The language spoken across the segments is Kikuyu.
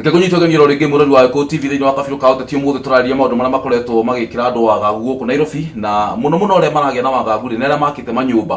reke kũnyitwo geng'iro rĩngĩ mũrori wa gĩkũ tv thĩinĩ wa kabirũ ka ũteti ũmũthĩ tũrarĩria maũndũ marĩa makoretwo magĩkĩra andũ wagagu gũkũ nairobi na mũno mũno arĩa maragĩa na wagagu rĩ nĩ arĩa makĩte manyũmba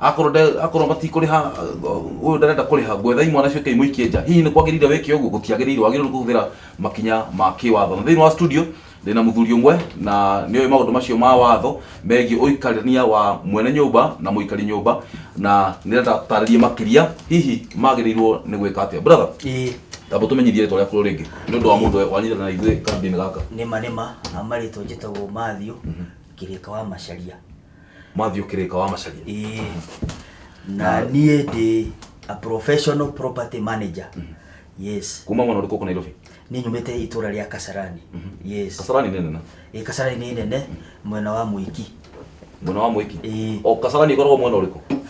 akorwo nde akorwo matikũrĩha uh, ũyũ ndarenda kũrĩha ngwethai mwana cio kei mũikie nja hihi nĩ kwagĩrĩire wĩke ũguo gũtiagĩrĩire wagĩrĩirwo nĩ kũhũthĩra makinya ma kĩwatho na thĩinĩ wa studio ndĩna mũthuri ũmwe na nĩoĩ maũndũ macio ma watho megiĩ ũikarania wa mwene nyũmba na mũikari nyũmba na nĩrenda tũtarĩrie makĩria hihi magĩrĩirwo nĩ gwĩka atĩa brother Ĩĩ, tamba tũmenyithie rĩtwa rĩaku rĩngĩ nĩ ũndũ wa mũndũ wanyitana na ithuĩ kambĩ-inĩ gaka nĩma nĩma marĩtwa njĩtagwo Matthew kĩrĩka wa macaria Matthew Kirika wa Macharia. Ĩĩ. na niĩ ndĩ a professional property manager yes Kuma mwana ũrĩkũ kũ Nairobi? niĩ nyumĩte itũra rĩa kasarani yes Kasarani nĩ nene. ĩ kasarani nĩ nene mwena wa mũiki Mwena wa Mwiki. Ĩĩ. O Kasarani ĩkoragwo mwena ũrĩkũ?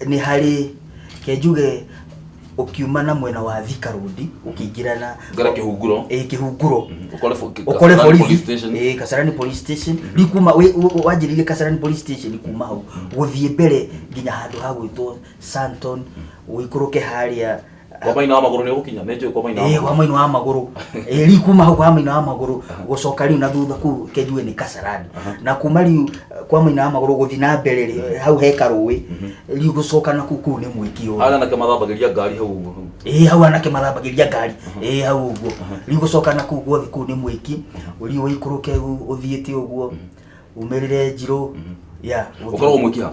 nĩ harĩ kenjuge ũkiuma na mwena wa Thika Road ũkĩingĩra na ngara kĩhunguro ĩ kĩhunguro Mhm. Ũkore fo- ki- ũkore Kasarani Police borithi Station. ĩ Kasarani Police Station rĩu kuma wĩ- wĩ- wĩ- wanjĩrĩirie Kasarani Police Station kuma hau gũthiĩ mbere nginya handũ ha gwĩtwo Santon ũikũrũke harĩa kwa maina wa maguru ni gukinya ni njui kwa maina wa Eh, kwa maguru mwena wa maguru Eh, riu kuma hau kwa mwena wa maguru gucoka riu na thutha kuu kenjue ni kasarani na kuma riu eh, kwa mwena wa maguru guthi na mbere rĩ, hau he karũĩ riu gucoka na kuu kuu ni mwiki ũyũ ana na kama thambagiria ngari hau uguo hau ĩĩ hau anake mathambagĩria ngari ĩĩ hau ũguo riu gũcoka na kuu guothe kuu nĩ mwĩki riu ũikũrũke u- ũthiĩte ũguo umĩrĩre njirũ ya ũkoragwo mwiki ha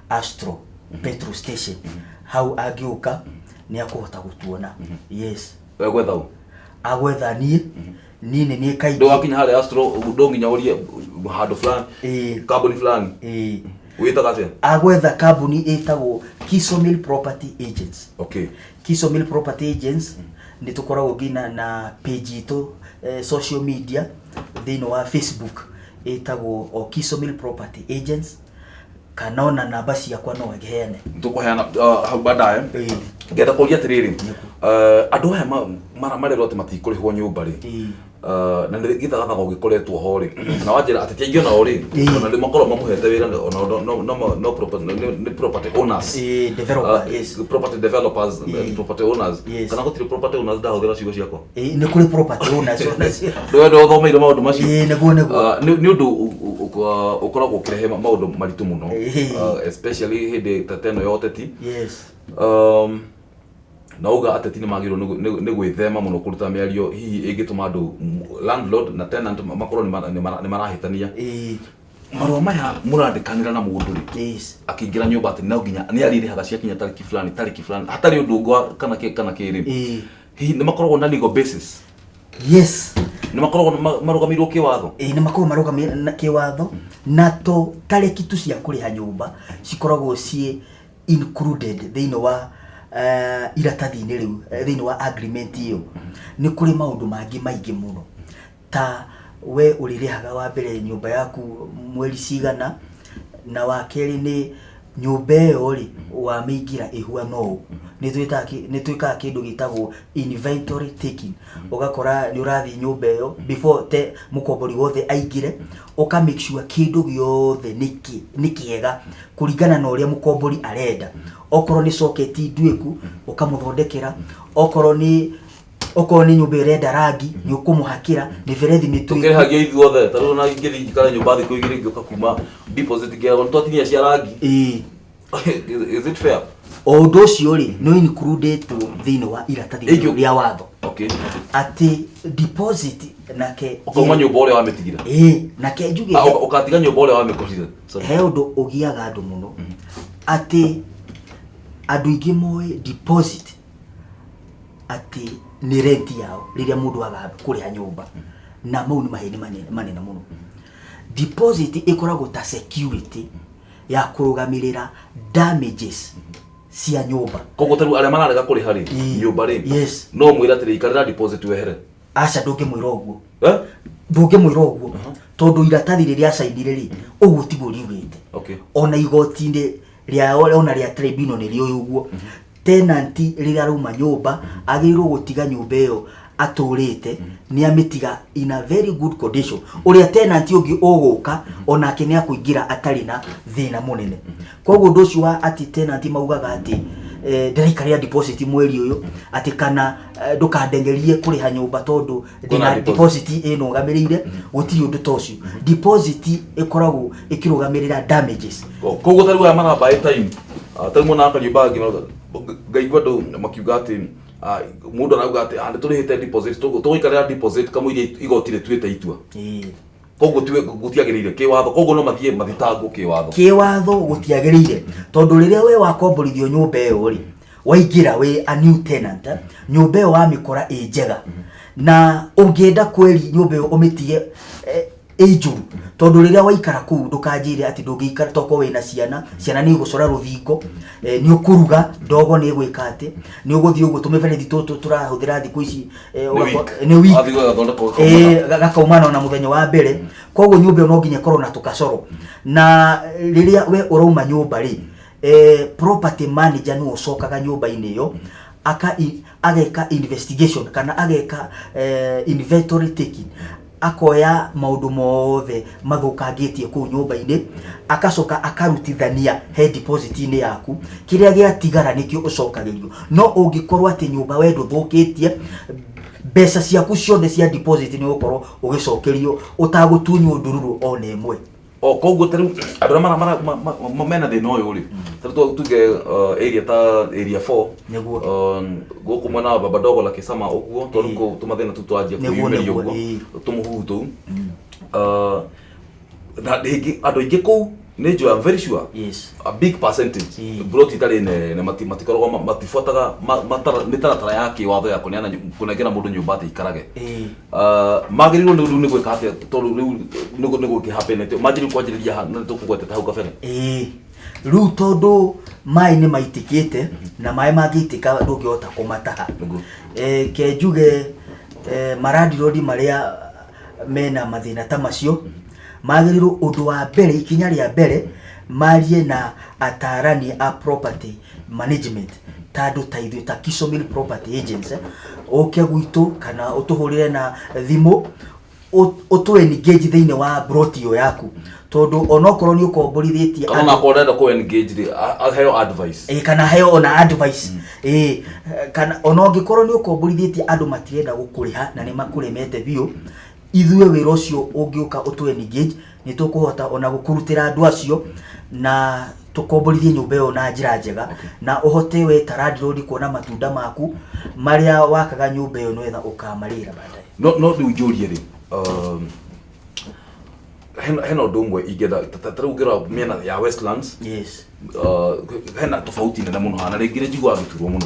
astro petrol station hau angĩũka nĩ akũhota gũtuona yes we gwetha ũ agwetha niĩ niĩ nĩ niĩ kaingĩ ndwakinya harĩa astro ndonginya ũrie handũ fulani Ĩĩ. kambuni fulani Ĩĩ. wĩtaga atĩa agwetha kambuni ĩtagwo Kiso Mill Property Agents okay Kiso Mill Property Agents nĩ tũkoragwo nginya na page itũ eh, social media thĩinĩ wa Facebook ĩtagwo o Kiso Mill Property Agents kana ona namba ciakwa no heane tũkũheana uh, hau bandaye Ĩĩ. ngenda kũria atĩrĩrĩ uh, andũ aya ma- mara marerwo atĩ matikũrĩhwo nyũmba rĩ Ĩĩ. uh, na nĩ gĩthagathaga ũgĩkoretwo ho rĩ na wanjĩra atĩ tiaingĩ onao rĩ Ĩĩ. ona rĩ makorwo mamũhete wĩra na- ona no- no- no- no property- nĩ- nĩ property owners Ĩĩ, developer, Uh, yes. property developers Ĩĩ. property owners Yes. kana gũtirĩ property owners ndahũthĩra ciugo ciakwa Eh, nĩ kũrĩ property owners onacio ndwenda ũthomeire maũndũ macio Ĩĩ, nĩguo, nĩguo. Ah, nĩ nĩ ũndũ ũ- ũ- ũ- ah, ũkoragwo ũkĩrehe ma- maũndũ maritũ mũno Ĩĩ. Ah, especially hĩndĩ ta teno ya ũteti yes Um, na uga ateti nĩ magĩrĩirwo nĩ gwĩ- nĩ- nĩ gwĩthema mũno kũruta mĩario hihi ĩngĩtũma andũ m- landlord na tenant ma- makorwo nĩ mara- nĩ mara- nĩ marahĩtania Ĩĩ, marũa maya mũrandĩkanĩra na mũndũ rĩ yes akĩingĩra nyũmba atĩ no nginya nĩ arĩrĩhaga ciakinya tarĩki fulani tarĩki fulani hatarĩ ũndũ ũngĩ wa- kana kĩ- kana kĩrĩ Ĩĩ. hihi nä makoragwo na legal basis yes nä makoragwo ma- marũgamĩirwo kä watho ĩĩ nĩ makorwo marũgamĩrĩra na kĩwatho na to tarĩki tu cia kũrĩha nyũmba cikoragwo ciĩ included thĩinĩ wa eh, iratathi-inĩ rĩu eh, thĩinĩ wa agreement ĩyo nĩ kũrĩ maũndũ mangĩ maingĩ mũno Ta we ũrĩrĩhaga wa mbere nyũmba yaku mweri cigana, na wa kerĩ nĩ nyũmba ĩyo rĩ, wamĩingĩra ĩhuana ũũ. Nĩ twĩtaga kĩ- nĩ twĩkaga kĩndũ gĩtagwo inventory taking. Ũgakora nĩ ũrathiĩ nyũmba ĩyo before te mũkombori wothe aingĩre, ũka make sure kĩndũ gĩothe nĩ kĩ- nĩ kĩega kũringana na ũrĩa mũkombori arenda. Okorwo nĩ socket nduĩku, ũkamũthondekera, okorwo nĩ okorwo nĩ nyũmba ĩrenda rangi nĩ ũkũmũhakĩra mĩberethi mĩtuĩku tukĩrĩhagia ithuothe ta rĩu na ingĩthiĩ njikare nyũmba thikũ igĩrĩ ngĩũka kuma deposit ngĩagwo twatinia cia rangi Ĩĩ. is it fair o ũndũ ũcio rĩ nĩ includĩtwo thĩinĩ wa iratathi Ĩngĩ- rĩu rĩa watho okay atĩ deposit nake ukauma nyũmba ũrĩa wamĩtigire Ĩĩ, nake njuge Ah, ũka- ũkatiga nyũmba ũrĩa wamĩkũhire Sorry. he ũndũ ũgiaga andũ mũno atĩ andũ aingĩ moĩ deposit atĩ nĩ rent yao rĩrĩa mũndũ aga kũrĩha nyũmba na mau nĩ maheni manene- manene mũno deposit ĩkoragwo ta security ya kũrũgamĩrĩra damages cia nyũmba koguo tarĩu arĩa mararega kũrĩha rĩ Ii. nyũmba rĩ Yes. no mwĩre atĩrĩ ikarĩra deposit wehere aca ndũngĩmwĩra ũguo Eh? ndũngĩmwĩra ũguo tondũ iratathi rĩrĩa acainire rĩ ũguo tiguo riugĩte Okay. ona igoti-inĩ rĩa ona rĩa tribunal nĩ rĩũĩ ũguo tenant rĩrĩa arauma nyũmba agĩrĩirwo gũtiga nyũmba ĩyo atũrĩte nĩ amĩtiga in a very good condition ũrĩa tenant ũngĩ ũgũka onake nĩ akũingĩra atarĩ na thĩna mũnene koguo ũndũ ũcio wa atĩ tenant maugaga atĩ eh, ndĩraikarĩra deposit mweri ũyũ atĩ kana eh, ndũkandengerie kũrĩha nyũmba tondũ Kwĩna Ndina deposit. deposit ĩrũgamĩrĩire gũtirĩ ũndũ ta ũcio deposit ĩkoragwo ĩkĩrũgamĩrĩra damages koguo tarĩu aya maramba ĩ time ah, tarĩu mwana akariũ bangi no ngaigua andũ makiuga atĩ ah, mũndũ arauga atĩ "Ah, nĩtũrĩhĩte deposit tũgũ- tũgũikarĩra deposit kamũira igoti rĩtuĩte itua Ĩĩ. koguo tiwe gũtiagĩrĩire kĩwatho koguo no mathiĩ mathitangwo kĩwatho kĩwatho gũtiagĩrĩire tondũ rĩrĩa we wakomborithio nyũmba ĩyo rĩ waingĩra wĩ a new tenant eh, nyũmba ĩyo wamĩkora ĩ njega na ũngĩenda kweri nyũmba ĩyo ũmĩtige eh, ĩ njũru tondũ rĩrĩa waikara kũu ndũkanjĩre atĩ ndũngĩikara toko wĩ na ciana ciana nĩ igũcora rũthingo eh, nĩ ũkũruga ndogo nĩ ĩgwĩka atĩ nĩ ũgũthiĩ ũguo tũmĩberethi tũtũ tũrahũthĩra thikũ ici Eh, Nĩ ũgako- week. nĩ week. Athiĩ agathondeka ũgakoma Eh, ga- gakaumana ona muthenya wa mbere koguo nyumba ĩyo no nginya ĩkorwo na tũkacoro na rĩrĩa we ũrauma nyumba rĩ eh, property manager nĩ ũcokaga nyumba-inĩ ĩyo aka i- ageka investigation kana ageka eh, inventory taking akoya maũndũ mothe mathũkangĩtie kũu nyũmba-inĩ, agacoka akarutithania he deposit-inĩ yaku, kĩrĩa gĩatigara nĩkĩo ũcokagĩrio. No ũngĩkorwo atĩ nyũmba we ndũthũkĩtie, mbeca ciaku ciothe cia deposit nĩ ũgũkorwo ũgĩcokerio ũtagũtunywo ndururu ona ĩmwe. o koguo ta rĩu andũ arĩa mara- mara- ma- ma- ma- mena thĩna ũyũ rĩ ta rĩu twa- tuge uh, area ta area 4 Nĩguo. um, gũkũ mwena wa baba ndogo la kisama ũguo tondũ Ĩĩ. kũ- tũmathĩna tu twanjia Nĩguo, kũyumĩria nĩguo, ũguo ĩĩ. tũmũhuhu tũu Uh, na rĩngĩ andũ aingĩ kũu nĩ njũa I'm very sure yes a big percentage Ĩĩ. broti itarĩ nene mati- matikoragwo ma- matibuataga ma- matara- mĩtaratara ya kĩwatho ya kũneana nyu- kũnengera mũndũ nyũmba atĩ ikarage Ĩĩ. Uh, magĩrĩirwo nĩ rĩu nĩ gwĩka atĩa tondũ rĩu nĩ gũ- nĩ gũkĩhapenete magĩrĩirwo kwanjĩrĩria ha- nĩ tũkũgwetete hau kabere ĩĩ rĩu tondũ maĩ nĩ maitĩkĩte na maĩ mangĩitĩka ndũngĩhota kũmataha Nĩguo. Eh, ke njuge eh, marandirodi marĩa mena mathĩna ta macio magĩrĩirwo ũndũ wa mbere ikinya rĩa mbere marie na atarani a property management ta andå ta ithuä ta Kisomil property agents eh, ũke gwitũ kana ũtũhũrĩre na thimũ ũ- ũtũ engage thĩinĩ wa brot ĩyo yaku tondũ onokorwo nĩ ũkomborithĩtie kana andũ- nakorwo ndenda kå engage rĩ a- aheo advice Eh, kana heo ona advice Eh, kana ona ũngĩkorwo nĩ ũkomborithĩtie andũ matirenda gũkũrĩha na nĩ makũremete biũ ithuĩ wĩra ũcio ũngĩũka ũtũ engage nĩ tũkũhota ona gũkũrutĩra andũ acio na tũkomborithie nyũmba ĩyo na njĩra njega na ũhote we ta landlord kuona matunda maku marĩa wakaga nyũmba ĩyo nĩwetha ũkamarĩra baadaye no no rĩu njũrie rĩ um, hena hena ũndũ ũmwe ingĩenda ta- ta- ta rĩu ngĩrora mĩena ya westlands yes uh, hena tofauti nene mũno hana rĩngĩ nĩ njiguaga gĩturwo mũno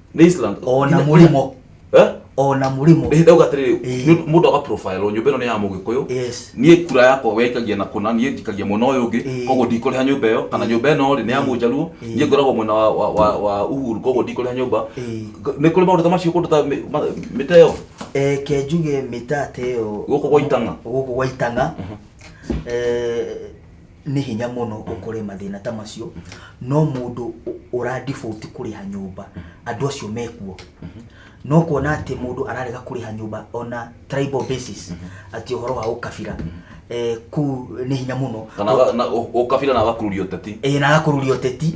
nĩ Island ona Ina- mũrimo Eh? ona mũrimo Ĩhĩ, ndauga atĩrĩrĩ Ĩĩ. nĩ- mũndũ aga profile nyũmba ĩno nĩ ya mũgĩkũyũ yes niĩ kura yakwa wekagia na kũna niĩ njikagia mwena ũyũ ũngĩ Ĩĩ. koguo ndikũrĩha nyũmba ĩyo kana nyũmba ĩno rĩ nĩ ya mũnjaruo Ĩĩ. niĩ ngoragwo mwena wa- wa- wa- wa uhuru koguo ndikũrĩha nyũmba Ĩĩ. nĩ kũrĩ maũndũ ta macio kũndũ ta mĩ- ma- mĩtĩ ĩyo eh, ke njuge mĩtate ĩyo Gũkũ gwa Itang'a. gũkũ gwa itanga eh, Nĩ hinya mũno ũkore mathĩna ta macio, no mũndũ ũra default kũrĩha nyũmba, andũ acio mekuo. No kuona atĩ mũndũ ararega kũrĩha nyũmba on a tribal basis, atĩ ũhoro wa ũkabira, eh, kũu nĩ hinya mũno. Kana na ũkabira na agakururia ũteti. Ĩĩ na agakururia ũteti.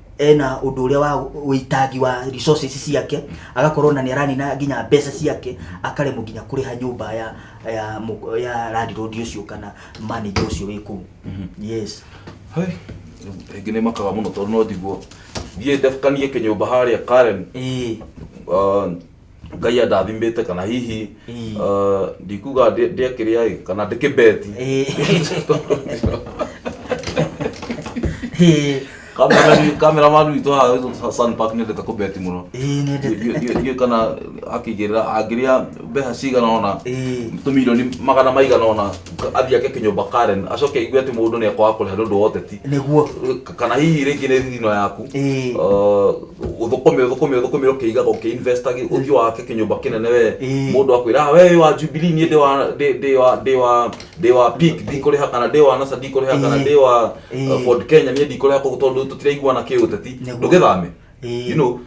ena ũndũ ũrĩa wa ũitangi wa resources ciake agakorwo na nĩ aranina nginya mbeca ciake akaremwo nginya kũrĩha nyũmba ya ya, mũ- ya landlord ũcio kana manager ũcio wĩ kũu yes Hai, rĩngĩ nĩ makaga mũno tondũ no njiguo thiĩ ndakanie kĩnyũmba harĩa karen ĩĩ Ah, ngai andathimĩte kana hihi Ii. uh, ndikuga ndĩ- ndĩakĩrĩa ĩ, kana ndĩkĩbeti kameramani witũ haha Sun Park nĩendete kũbeti mũno ndiũĩ kana akĩigĩrĩra angĩrĩa mbeca cigana ona tũmirioni magana maigana ona athiĩ ake kĩnyũmba Karen acoke aigue atĩ mũndũ nĩ ekwaga kũrĩha nĩ ũndũ wa ũteti nĩguo kana hihi rĩngĩ nĩ thithino yaku Ĩĩ. uh, ũthũkũme ũthũkũme ũthũkũme ũkĩigaga ũkĩinvestaga ũthiĩ wake kĩnyũmba kĩnene we Ĩĩ. mũndũ akwĩra "Ah, we wĩ wa jubilee niĩ ndĩ wa ndĩ- ndĩ wa ndĩ wa ndĩ wa pik ndikũrĩha kana ndĩ wa nasa ndikũrĩha kana Ĩĩ. ndĩ wa Ĩĩ. uh, ford kenya niĩ ndikũrĩha kũgũ tondũ tũtiraiguana kĩũteti Nĩguo. ndũgĩthame Eh. you know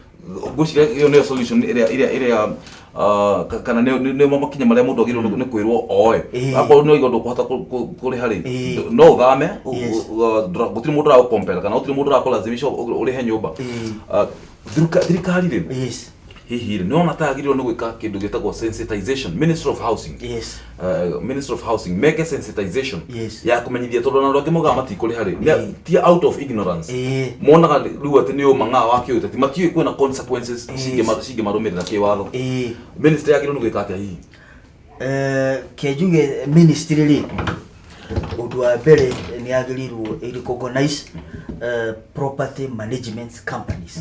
ngwĩciria ĩyo nĩyo solution ĩrĩa ĩrĩa ĩrĩa ah, ka- kana nĩyo- nĩ nĩ makinya marĩa mũndũ agĩrĩirwo nĩ- nĩ kwĩrwo oe Eh. akorwo nĩ ũiga ndũkũhota kũ- kũ- kũrĩha rĩ Eh. no ũthame ũ- Yes. ũ- ũ- ndũra- gũtirĩ mũndũ ũragũkompera kana gũtirĩ mũndũ ũrakũlazimisha ũ- ũrĩhe nyũmba Eh. Ah, thirika- thirikari rĩ yes hihi rĩ nĩwona ta agĩrĩirwo nĩ gwĩka kĩndũ gĩtagwo sensitization ministry of housing yes uh, ministry of housing meke sensitization Yes. ya kũmenyithia tondũ ona angĩ mogaga matikũrĩha rĩ Eh. Ne- ti out of ignorance Eh. monaga rĩu atĩ nĩ ũma ng'aa wa kĩũteti matiũĩ kwĩna consequences Yes. cingĩma- cingĩmarũmĩrĩra kĩwatho eh ministry agĩrĩirwo nĩ gwĩka atĩa hihi Eh, kenjuge ministry rĩ ũndũ wa mbere nĩ agĩrĩirwo ĩ recognize eh, property management companies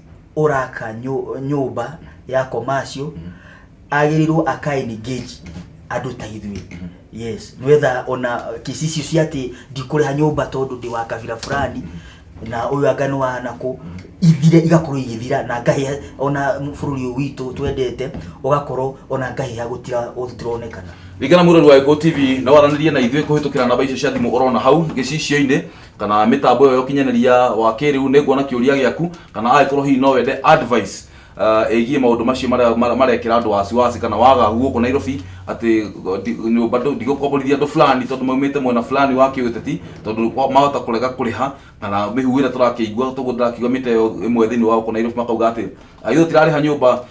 ũraka nyũ- nyũmba ya commercial agĩrĩirwo aka engage andũ ta ithuĩ yes nĩwetha ona kĩci icio cia atĩ ndikũrĩha nyũmba tondũ ndĩ wa kabira fulani na ũyũ anga nĩ wa nakũ ithire igakorwo igĩthira na ngahĩa ona bũrũri ũyũ witũ twendete ũgakorwo ona ngahĩa gũtira- gũtironekana ringana mũrori wa gĩkũ tv no waranĩrie na ithuĩ kũhĩtũkĩra namba icio cia thimũ ũrona hau gĩcicio-inĩ kana mitambo ĩyo ya ũkinyanĩria wa kĩrĩu nĩ nguona kĩũria gĩaku kana agĩkorwo hihi no wende advice uh, ĩgiĩ maũndũ macio marĩa- marĩa- marekĩra andũ wasiwasi kana wagagu gũkũ nairobi atĩ uh, ndi- nyũmba ndũ- ndigũkomborithia andũ fulani tondũ maumĩte mwena fulani wa kĩũteti tondũ kwa- mahota kũrega kũrĩha kana mĩhuhu ĩrĩa tũrakĩigua tũguo ndĩrakĩigua mĩta ĩyo ĩmwe thĩinĩ wa gũkũ nairobi makauga atĩ "Ah, ithuĩ tũtirarĩha nyũmba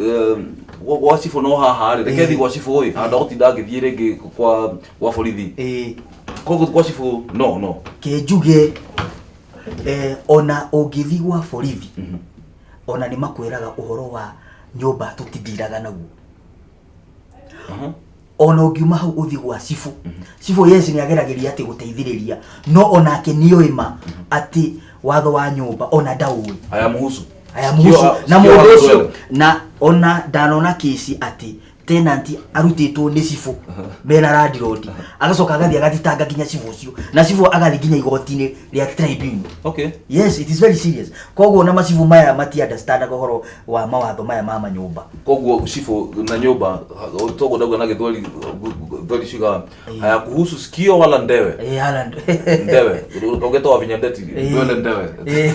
eh, gwa gwa cibũ no haha rĩ reke thiĩ gwa cibũ ĩ handũ gũtinda ngĩthiĩ rĩngĩ kwa gwa borithi ĩĩ koguo gwa cibũ no no ke njuge eh, ona ũngĩthi gwa borithi ona nĩ makwĩraga ũhoro wa nyũmba tũtindiraga naguo Aha. ona ũngiuma hau ũthiĩ gwa cibũ cibũ yes nĩ ageragĩria atĩ gũteithĩrĩria no onake nĩ oĩ ma atĩ watho wa nyũmba ona ndaũĩ aya muhusu aya Sio- mũhusu na sio mũndũ watu ũcio wewe. na ona ndanona kĩci atĩ tenanti arutĩtwo nĩ cibũ mena randirodi agacoka agathiĩ agathitanga nginya cibũ ũcio na cibũ agathiĩ nginya igoti-inĩ they are tribunal okay yes it is very serious koguo na macibu maya mati understand ũhoro wa mawatho maya ma manyũmba koguo cibũ na nyũmba toguo ndauga na gĩthweri thweri ciga haya kuhusu sikio wala ndewe Eh, Haaland. ndewe ũgetoa vinya ndeti Eh. ndwele ndewe Eh.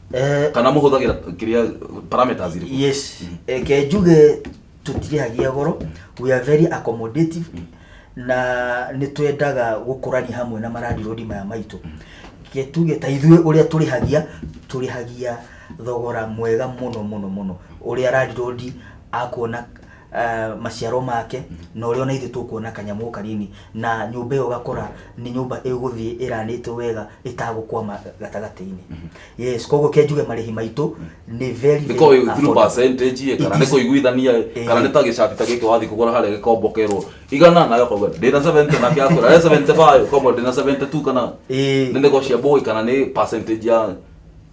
Eh, kana mũhũthagĩra kĩrĩa parameters irĩkũ yes reke njuge tũtirĩhagia goro we are very accommodative na nĩ twendaga gũkũrania hamwe na marandirodi maya maitũ Reke tuge ta ithuĩ ũrĩa tũrĩhagia tũrĩhagia thogora mwega mũno mũno mũno ũrĩa randirodi akuona uh, maciaro make na ũrĩa ona ithuĩ tũkuona kanyamũ kanini na nyũmba ĩyo ũgakora nĩ nyũmba ĩgũthiĩ ĩranĩtwo wega ĩtagũkwama gatagatĩ-inĩ yes koguo ke njuge marĩhi maitũ nĩ very, nä very ko through affordable. percentage ä kana It nä is- kå iguithania ä Eh. kana nä ta gä cabi ta gä kä wathi kå gå ra harä a gä kombokerwo igana nayo kogua ndä na 70 nake akwä ra 75 komwe ndä na 72 kana Eh. nä nä gocia mbå kana nä percentage ya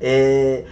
eh,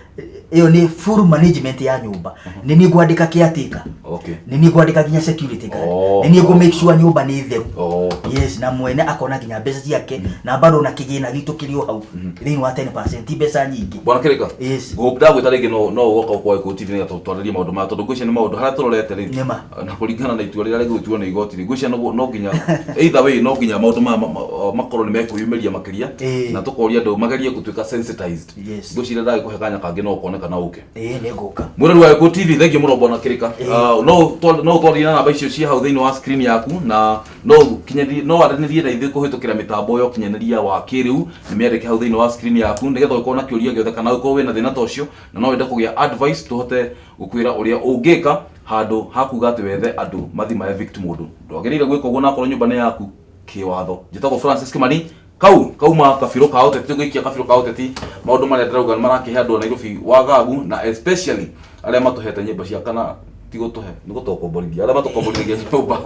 ĩyo nĩ full management ya nyũmba nĩ niĩ ngwandĩka caretaker okay nĩ niĩ ngwandĩka nginya security guard Oh. nĩ niĩ ngũ make sure nyũmba nĩ theru oh yes na mwene akona nginya mbeca ciake na bado na kĩgĩna gitũ kĩrĩ o hau thĩinĩ wa 10 ti mbeca nyingĩ bwana kirika Yes. ngũgũkira gwĩta rĩngĩ no no woka ũkoe kũ TV nĩgetha twarĩrie maũndũ maya tondũ ngwĩciria nĩ maũndũ harĩa tũrorete rĩ Nĩ ma. na kũringana na itua rĩrĩa rĩgũtuo nĩ igoti rĩ ngwĩciria no no nginya either way no nginya maũndũ maya ma- ma- makorwo nĩ mekũyumĩria makĩria Ĩĩ. na tũkoria andũ magerie gũtuĩka sensitized Yes. ngwĩciria ndagĩkũhe kanya kangĩ no ũkoneka na ũke ĩĩ nĩ ngũka mwĩrori wa Gĩkũyũ TV thengiũ mũno mbona kĩrĩka Ah, no ũtwa- no ũtwarĩrie na namba icio ciĩ hau thĩinĩ wa screen yaku na no ũkinyanĩrie- no aranĩrie na ithuĩ kũhĩtũkĩra mĩtambo ya ũkinyanĩria wa kĩrĩu nĩ mĩandĩke hau thĩinĩ wa screen yaku nĩgetha ũkorwo na kĩũria gĩothe kana ũkorwo wĩna thĩna ta ũcio na no wende kũgĩa advice tũhote gũkwĩra ũrĩa ũngĩka Handũ ha kuga atĩ wethe andũ mathi ma evict mũndũ, ndwagĩrĩire gwĩka ũguo na akorwo nyũmba nĩ yaku kĩwatho. Njĩtagwo Francis Kimani, kau kauma kabirũ ka ũteti gũikia kabirũ ka ũteti. Maũndũ marĩa ndĩrauga nĩ marakĩhe andũ a Nairobi wagagu na especially arĩa matũhete nyũmba cia kana ti gũtũhe nĩ gũtũkomborithia arĩa matũkomborithagia nyũmba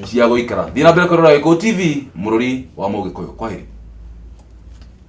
cia gũikara. Thiĩ na mbere kwĩrorera Gĩkũyũ TV, mũrũri wa Mũgĩkũyũ. Kwaheri.